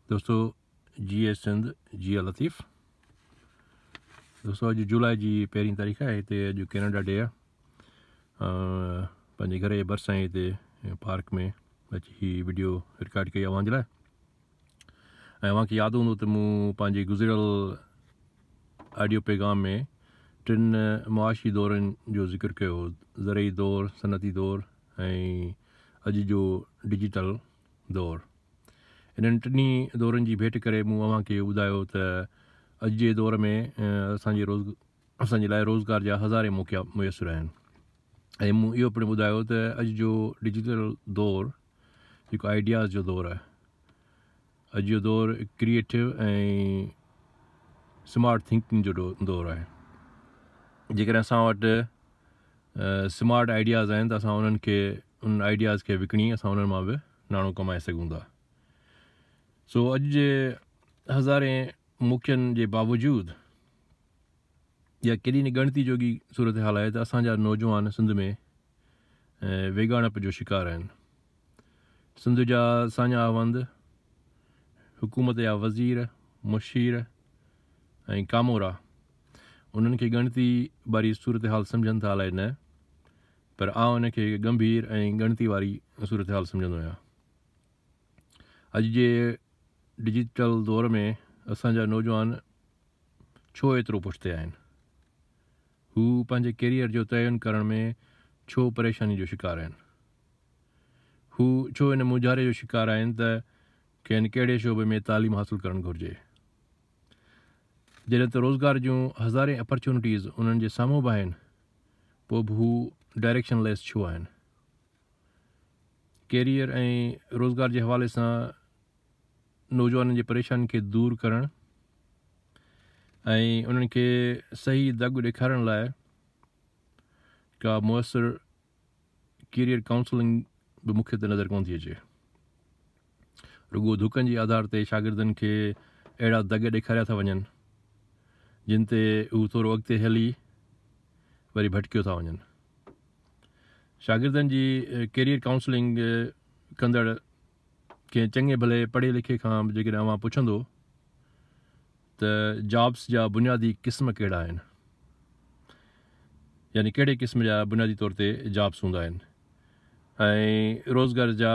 دوستو جيئي سنڌ جيئي لطيف دوستو اڄ جولاء جي پهرين تاريخ آهي هتي اڄ ڪينيڊا ڊي آهي پنهنجي گهر جي برسان هتي پارڪ ۾ اچي هي ويڊيو رڪارڊ ڪئي اوهان جي لاء ۽ اوهان کي ياد هوندو ته مون پنهنجي گذريل آڊيو پيغام ۾ ٽن معاشي دورن جو ذڪر ڪيو زرعي دور صنعتي دور ۽ اڄ جو ڊجيٽل دور، انهن ٽنهي دورن جي ڀيٽ ڪري مون اوهان کي اهو ٻڌايو ته اڄ جي دور ۾ اسان جي اسان جي لاء روزگار جا هزارين موقعا ميسر آهن ۽ مون اهو پڻ ٻڌايو ته اڄ جو ڊجيٽل دور جيڪو آئيڊياز جو دور آهي اڄ جو دور ڪريئيٽو ۽ سمارٽ ٿنڪنگ جو دور آهي جيڪڏهن اسان وٽ سمارٽ آئيڊياز آهن ته اسان انهن کي انهن آئيڊياز کي وڪڻي اسان انهن مان به ناڻو ڪمائي سگهون ٿا سو اڄ جي هزارين موقعن جي باوجود اها ڪيڏي نه ڳڻتي جوڳي صورتحال آهي ته اسان جا نوجوان سنڌ ۾ ويڳاڻپ جو شڪار آهن سنڌ جا ساڃاهه وند، حڪومت جا وزير، مشير ۽ ڪامورا انهن کي ڳڻتي واري صورتحال سمجهن ٿا الائي نه، پر آء ان کي ڳنڀير ۽ ڳڻتي واري صورتحال سمجهندو آهيان. اڄ جي ڊجيٽل دور ۾ اسان جا نوجوان ڇو ايترو پٺتي آهن؟ هو پنهنجي ڪيريئر جو تعين ڪرڻ ۾ ڇو پريشاني جو شڪار آهن؟ هو ڇو ان مونجهاري جو شڪار آهن ته کين ڪهڙي شعبي ۾ تعليم حاصل ڪرڻ گهرجي؟ جڏهن ته روزگار جون هزارين اپرچونٽيز انهن جي سامهون به آهن پوء به هو ڊائريڪشن ليس ڇو آهن؟ ڪيريئر ۽ روزگار جي حوالي سان نوجوانن جي پريشانين کي دور ڪرڻ ۽ انهن کي صحيح دڳ ڏيکارڻ لاء ڪا مؤثر ڪيريئر ڪائونسلنگ به مون کي ته نظر ڪونه ٿي اچي. رڳو ڌڪن جي آڌار تي شاگردن کي اهڙا دڳ ڏيکاريا ٿا وڃن جن تي هو ٿورو اڳتي هلي وري ڀٽڪيو ٿا وڃن. شاگردن جي ڪيريئر ڪائونسلنگ ڪندڙ ڪنهن چڱي ڀلي پڙهي لکي کان به جيڪڏهن اوهان پڇندو ته جابس جا بنيادي قسم ڪهڙا آهن يعني ڪهڙي قسم جا بنيادي طور تي جابس هوندا آهن ۽ روزگار جا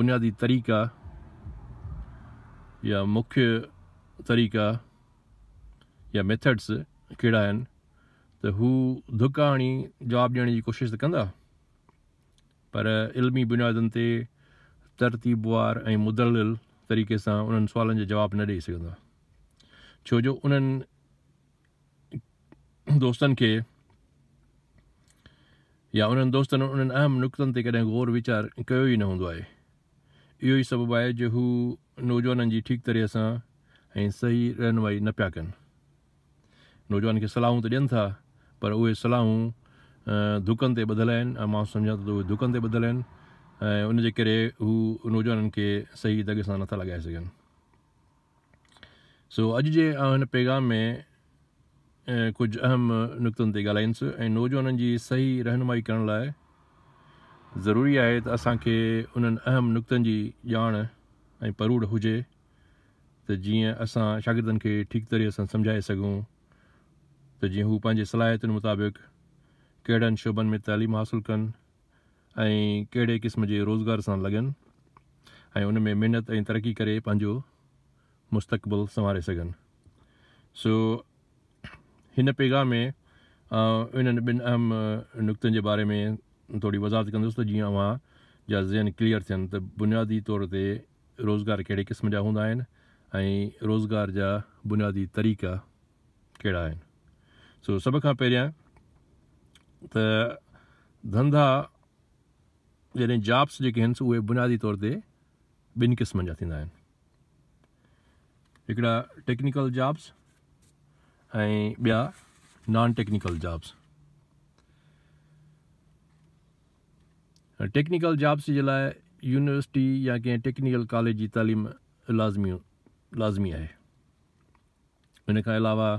بنيادي طريقا يا مکي طريقا يا ميٿڊس ڪهڙا آهن ته هو ڌڪ آڻي جواب ڏيڻ جي ڪوشش ته ڪندا پر علمي بنيادن تي ترتيبوار ۽ مدلل طريقي سان انهن سوالن جا جواب نه ڏئي سگهندا ڇو جو انهن دوستن کي يا انهن دوستن انهن اهم نقطن تي ڪڏهن غور ويچار ڪيو ئي نه هوندو آهي اهو ئي سبب آهي جو هو نوجوانن جي ٺيڪ طرح سان ۽ صحيح رهنمائي نه پيا ڪن نوجوان کي صلاحون ته ڏين ٿا پر اهي صلاحون ڌڪن تي ٻڌل آهن ۽ مان سمجهان ٿو ته اهي ڌڪن تي ٻڌل آهن ۽ ان جي ڪري هو نوجوانن کي صحيح دڳ سان نٿا لڳائي سگهن سو اڄ جي آئون هن پيغام ۾ ڪجهه اهم نقطن تي ڳالهائيندس ۽ نوجوانن جي صحيح رهنمائي ڪرڻ لاء ضروري آهي ته اسان کي انهن اهم نقطن جي ڄاڻ ۽ پروڙ هجي ته جيئن اسان شاگردن کي ٺيڪ طريقي سان سمجهائي سگهون ته جيئن هو پنهنجي صلاحيتن مطابق ڪهڙن شعبن ۾ تعليم حاصل ڪن ۽ ڪهڙي قسم جي روزگار سان لڳن ۽ ان ۾ محنت ۽ ترقي ڪري پنهنجو مستقبل سنواري سگهن سو هن پيغام ۾ آئون انهن ٻن اهم نقطن جي باري ۾ ٿوري وضاحت ڪندس ته جيئن اوهان جا ذهن ڪليئر ٿين ته بنيادي طور تي روزگار ڪهڙي قسم جا هوندا آهن ۽ روزگار جا بنيادي طريقا ڪهڙا آهن سو سڀ کان پهريان ته ڌنڌا يعني جابس جيڪي آهن سو اهي بنيادي طور تي ٻن قسمن جا ٿيندا آهن هڪڙا ٽيڪنيڪل جابس ۽ ٻيا non technical jobs technical jobs جي لاء يونيورسٽي يا ڪنهن ٽيڪنيڪل ڪاليج جي تعليم لازمي لازمي آهي. ان کان علاوه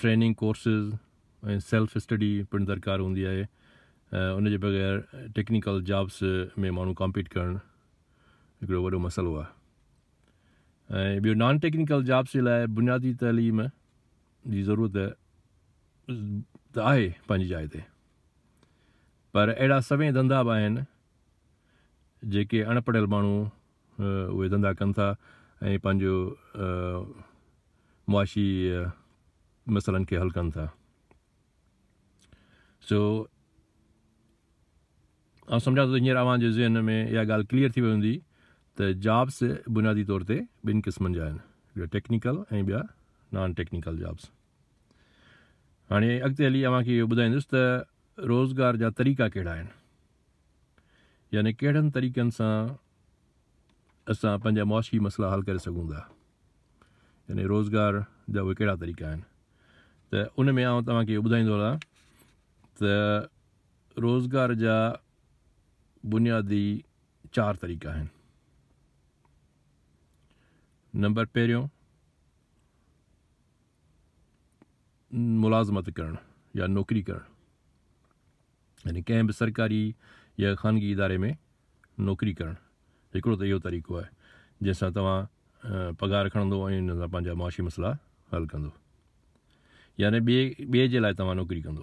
ٽريننگ ڪورسز ۽ سيلف اسٽڊي پڻ درڪار هوندي آهي. ان جي بغير ٽيڪنيڪل جابس ۾ ماڻهو ڪامپيٽ ڪرڻ هڪڙو وڏو مسئلو آهي. ۽ ٻيو نان ٽيڪنيڪل جابس جي لاء بنيادي تعليم جي ضرورت ته آهي پنهنجي جاء تي. پر اهڙا سوين ڌنڌا به آهن جيڪي اڻ پڙهيل ماڻهو اهي ڌنڌا ڪن ٿا ۽ پنهنجو معاشي مسئلن کي حل ڪن ٿا سو آ سمجھا ٿو هينئر اوهان جي ذهن ۾ اها ڳالهه ڪليئر ٿي وئي هوندي ته جابس بنيادي طور تي ٻن قسمن جا آهن ٽيڪنيڪل ۽ ٻيا نان ٽيڪنيڪل جابس هاڻي اڳتي هلي اوهان کي اهو ٻڌائيندس ته روزگار جا طريقا ڪهڙا آهن يعني ڪهڙن طريقن سان اسان پنهنجا معاشي مسئلا حل ڪري سگهون ٿا يعني روزگار جا اهي ڪهڙا طريقا آهن ته ان ۾ آئون توهان کي ٻڌائيندو رهان ته روزگار جا بنيادي چار طريقا آهن نمبر پهريون ملازمت ڪرڻ يا نوڪري ڪرڻ يعني ڪنهن به سرڪاري يا خانگي اداري ۾ نوڪري ڪرڻ هڪڙو ته اهو طريقو آهي جنهن سان توهان پگهار کڻندو ۽ ان سان پنهنجا معاشي مسئلا حل ڪندو يعني ٻئي ٻئي جي لاء توهان نوڪري ڪندو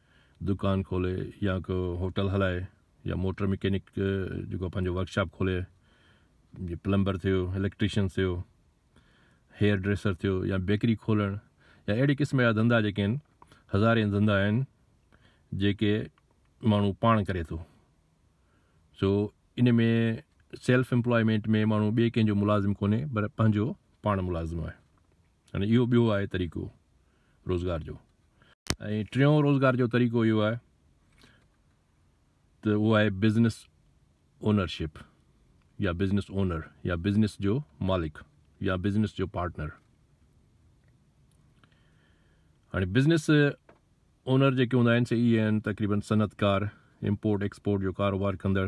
دڪان کولي يا ڪو هوٽل هلائي يا موٽر مڪينڪ جيڪو آهي پنهنجو ورڪشاپ کولي جي پلمبر ٿيو اليڪٽريشن ٿيو هيئر ڊريسر ٿيو يا بيڪري کولڻ يا اهڙي قسم جا ڌندا جيڪي آهن هزارين ڌندا آهن جيڪي ماڻهو پاڻ ڪري ٿو سو ان ۾ سيلف امپلائمينٽ ۾ ماڻهو ٻئي ڪنهن جو ملازم ڪونهي پر پنهنجو پاڻ ملازم آهي يعني اهو ٻيو آهي طريقو روزگار جو ۽ ٽيون روزگار جو طريقو اهو آهي ته اهو آهي بزنس اونرشپ يا بزنس اونر يا بزنس جو مالڪ يا بزنس جو پارٽنر ها بزنس اونر جيڪي هوندا آهن سي اي آهن تقريبن صنعتڪار امپورٽ ايڪسپورٽ جو ڪاروبار ڪندڙ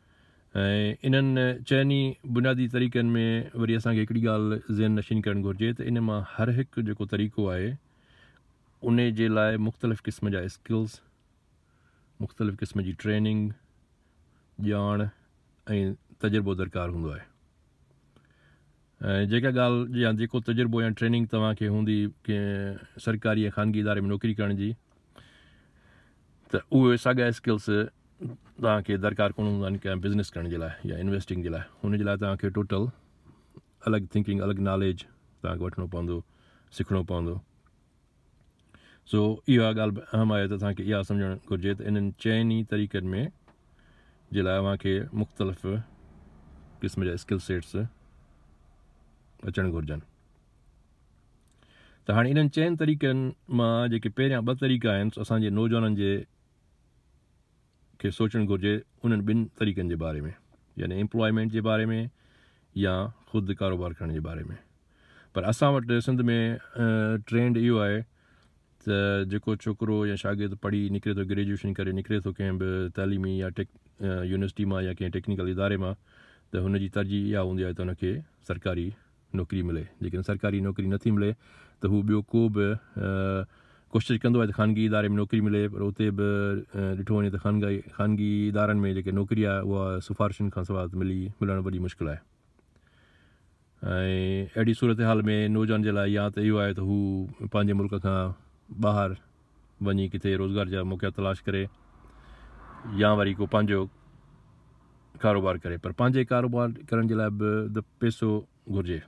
۽ انهن چئن ئي بنيادي طريقن ۾ وري اسان کي هڪڙي ڳالهه ذهن نشين ڪرڻ گهرجي ته ان مان هر هڪ جيڪو طريقو آهي ان جي لاء مختلف قسم جا اسڪلز، مختلف قسم جي ٽريننگ، ڄاڻ ۽ تجربو درڪار هوندو آهي. ۽ جيڪا ڳالهه يا جيڪو تجربو يا ٽريننگ توهان کي هوندي ڪنهن سرڪاري يا خانگي اداري ۾ نوڪري ڪرڻ جي ته اهي ساڳا اسڪلس توهان کي درڪار ڪونه هوندا آهن ڪنهن بزنس ڪرڻ جي لاء يا انويسٽنگ جي لاء ان جي لاء توهان کي ٽوٽل الڳ ٿنڪنگ الڳ ناليج توهان کي وٺڻو پوندو سکڻو پوندو سو اها ڳالهه به اهم آهي ته اسان کي اها سمجهڻ گهرجي ته انهن چئن ئي طريقن ۾ جي لاء اوهان کي مختلف قسم جا اسڪل سيٽس اچڻ گهرجن ته هاڻي انهن چئن طريقن مان جيڪي پهريان ٻه طريقا آهن اسان جي نوجوانن جي کي سوچڻ گهرجي انهن ٻن طريقن جي باري ۾ يعني ايمپلائمينٽ جي باري ۾ يا خود ڪاروبار ڪرڻ جي باري ۾ پر اسان وٽ سنڌ ۾ ٽرينڊ اهو آهي ته جيڪو ڇوڪرو يا شاگرد پڙهي نڪري ٿو گريجويشن ڪري نڪري ٿو ڪنهن به تعليمي يا ٽيڪ يونيورسٽي مان يا ڪنهن ٽيڪنيڪل اداري مان ته هن جي ترجيح اها هوندي آهي ته هن کي سرڪاري نوڪري ملي جيڪڏهن سرڪاري نوڪري نٿي ملي ته هو ٻيو ڪو به ڪوشش ڪندو آهي ته خانگي اداري ۾ نوڪري ملي پر اتي به ڏٺو وڃي ته خانگي خانگي ادارن ۾ جيڪي نوڪري آهي اها سفارشن کان سواء ملي ملڻ وڏي مشڪل آهي ۽ اهڙي صورتحال ۾ نوجوان جي لاء يا ته اهو آهي ته هو پنهنجي ملڪ کان ٻاهر وڃي ڪٿي روزگار جا موقعا تلاش ڪري يا وري ڪو پنهنجو ڪاروبار ڪري پر پنهنجي ڪاروبار ڪرڻ جي لاء به ته پيسو گهرجي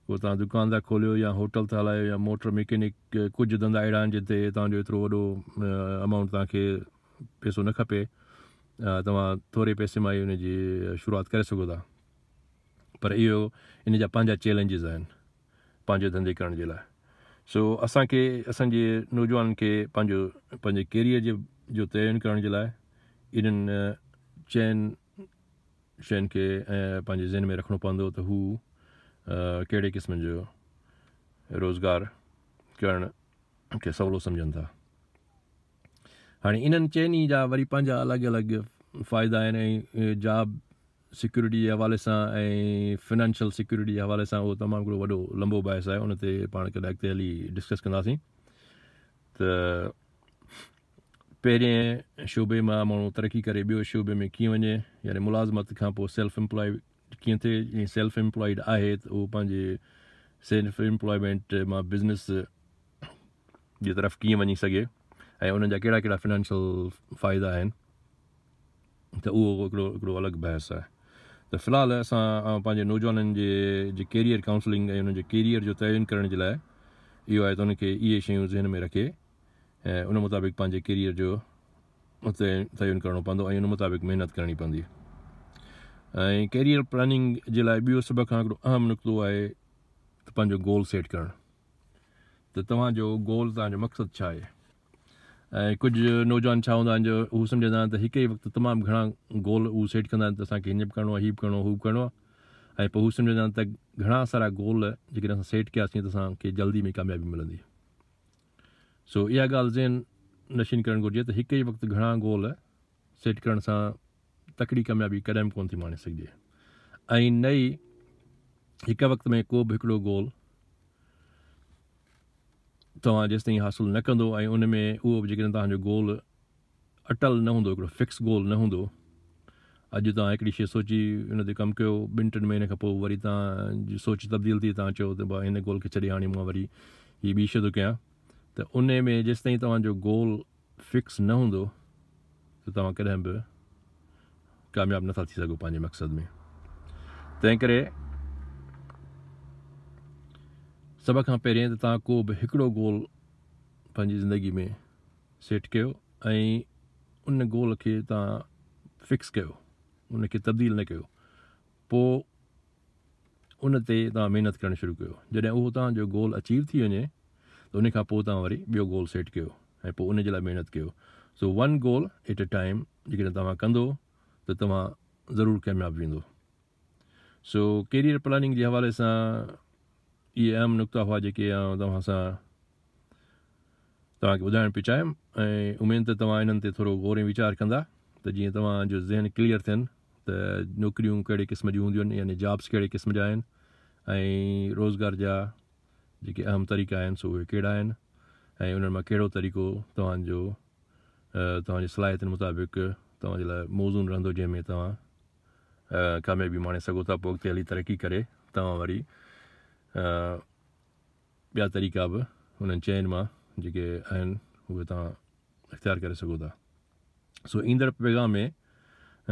ڪو تان دڪان ٿا کوليو يا هوٽل ٿا هلايو يا موٽر ميڪينڪ ڪجهه ڌندا اهڙا آهن جن تي توهان جو ايترو وڏو امائونٽ توهان کي پيسو نه کپي توهان ٿوري پيسي مان ئي ان جي شروعات ڪري سگهو ٿا پر اهو ان جا پنهنجا چيلنجز آهن پنهنجو ڌنڌي ڪرڻ جي لاء سو اسان کي اسان جي نوجوانن کي پنهنجو پنهنجي ڪيريئر جي جو تعين ڪرڻ جي لاء انهن چئن شين کي پنهنجي ذهن ۾ رکڻو پوندو ته هو ڪهڙي قسم جو روزگار ڪرڻ کي سولو سمجھن ٿا هاڻي انهن چئني جا وري پنهنجا الڳ الڳ فائدا آهن ۽ جاب سيڪيورٽي جي حوالي سان ۽ فنانشل سيڪيورٽي جي حوالي سان اهو تمام هڪڙو وڏو لنبو بحث آهي ان تي پاڻ ڪڏهن اڳتي هلي ڊسڪس ڪنداسين ته پهرين شعبي مان ماڻهو ترقي ڪري ٻيو شعبي ۾ ڪيئن وڃي يعني ملازمت کان پوء سيلف امپلائي ڪيئن ٿئي جي سيلف امپلائيڊ آهي ته اهو پنهنجي سيلف امپلائمينٽ مان بزنس جي طرف ڪيئن وڃي سگهي ۽ انهن جا ڪهڙا ڪهڙا فنانشل فائدا آهن ته اهو هڪڙو هڪڙو الڳ بحث آهي ته في الحال اسان پنهنجي نوجوانن جي جي ڪيريئر ڪائونسلنگ ۽ انهن جي ڪيريئر جو تعين ڪرڻ جي لاء اهو آهي ته انهن کي اهي شيون ذهن ۾ رکي ۽ ان مطابق پنهنجي ڪيريئر جو تعين ڪرڻو پوندو ۽ ان مطابق محنت ڪرڻي پوندي ۽ ڪيريئر پلاننگ جي لاء ٻيو سڀ کان هڪڙو اهم نقطو آهي ته پنهنجو گول سيٽ ڪرڻ ته توهان جو گول توهان جو مقصد ڇا آهي ۽ ڪجهه نوجوان ڇا هوندا آهن جو هو سمجهندا آهن ته هڪ ئي وقت تمام گهڻا گول هو سيٽ ڪندا آهن ته اسان کي هينئن به ڪرڻو آهي هي به ڪرڻو هو به ڪرڻو آهي ۽ پوء هو سمجهندا آهن ته گهڻا سارا گول جيڪڏهن اسان سيٽ ڪياسين ته اسان کي جلدي ۾ ڪاميابي ملندي سو اها ڳالهه ذهن نشين ڪرڻ گهرجي ته هڪ ئي وقت گهڻا گول سيٽ ڪرڻ سان تڪڙي ڪاميابي ڪڏهن به ڪونه ٿي ماڻي سگهجي ۽ نه ئي هڪ وقت ۾ ڪو به هڪڙو گول توهان جيستائين حاصل نه ڪندو ۽ ان ۾ اهو به جيڪڏهن توهان جو گول اٽل نه هوندو هڪڙو فڪس گول نه هوندو اڄ توهان هڪڙي شيء سوچي ان تي ڪم ڪيو ٻن ٽن مهينن کان پوء وري توهان جي سوچ تبديل ٿي توهان چئو ته با هن گول کي ڇڏي هاڻي مان وري هي ٻي شيء ٿو ڪيان ته ان ۾ جيستائين توهان جو گول فڪس نه هوندو ته توهان ڪڏهن به ڪامياب نٿا ٿي سگهو پنهنجي مقصد ۾ تنهن ڪري سڀ کان پهرين ته توهان ڪو به هڪڙو گول پنهنجي زندگي ۾ سيٽ ڪيو ۽ ان گول کي توهان فڪس ڪيو ان کي تبديل نه ڪيو پوء ان تي توهان محنت ڪرڻ شروع ڪيو جڏهن اهو توهان جو گول اچيو ٿي وڃي ته ان کان پوء توهان وري ٻيو گول سيٽ ڪيو ۽ پوء ان جي لاء محنت ڪيو so one goal at a time جيڪڏهن توهان ڪندو ته توهان ضرور ڪامياب ويندو سو ڪيريئر پلاننگ جي حوالي سان اهي اهم نقطا هئا جيڪي توهان سان توهان کي ٻڌائڻ پيو چاهيم ۽ اميد ته توهان انهن تي ٿورو غور ۽ ويچار ڪندا ته جيئن توهان جو ذهن ڪليئر ٿين ته نوڪريون ڪهڙي قسم جون هونديون آهن يعني جابس ڪهڙي قسم جا آهن ۽ روزگار جا جيڪي اهم طريقا آهن سو اهي ڪهڙا آهن ۽ انهن مان ڪهڙو طريقو توهان جو توهان جي صلاحيتن مطابق توهان جي لاء موزون رهندو جنهن ۾ توهان ڪاميابي ماڻي سگهو ٿا پوء اڳتي هلي ترقي ڪري توهان وري ٻيا طريقا به انهن چئن مان جيڪي آهن اهي توهان اختيار ڪري سگهو ٿا سو ايندڙ پيغام ۾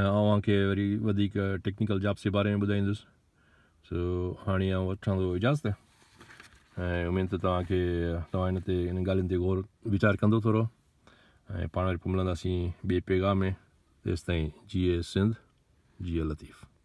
آئون اوهان کي وري وڌيڪ ٽيڪنيڪل جابس جي باري ۾ ٻڌائيندس سو هاڻي آئون وٺان ٿو اجازت ۽ اميد ته توهان کي توهان هن تي ان ڳالهين تي غور ويچار ڪندو ٿورو ۽ پاڻ وري پوء ملنداسين ٻئي پيغام ۾ تيستائين جيئي سنڌ جيئي لطيف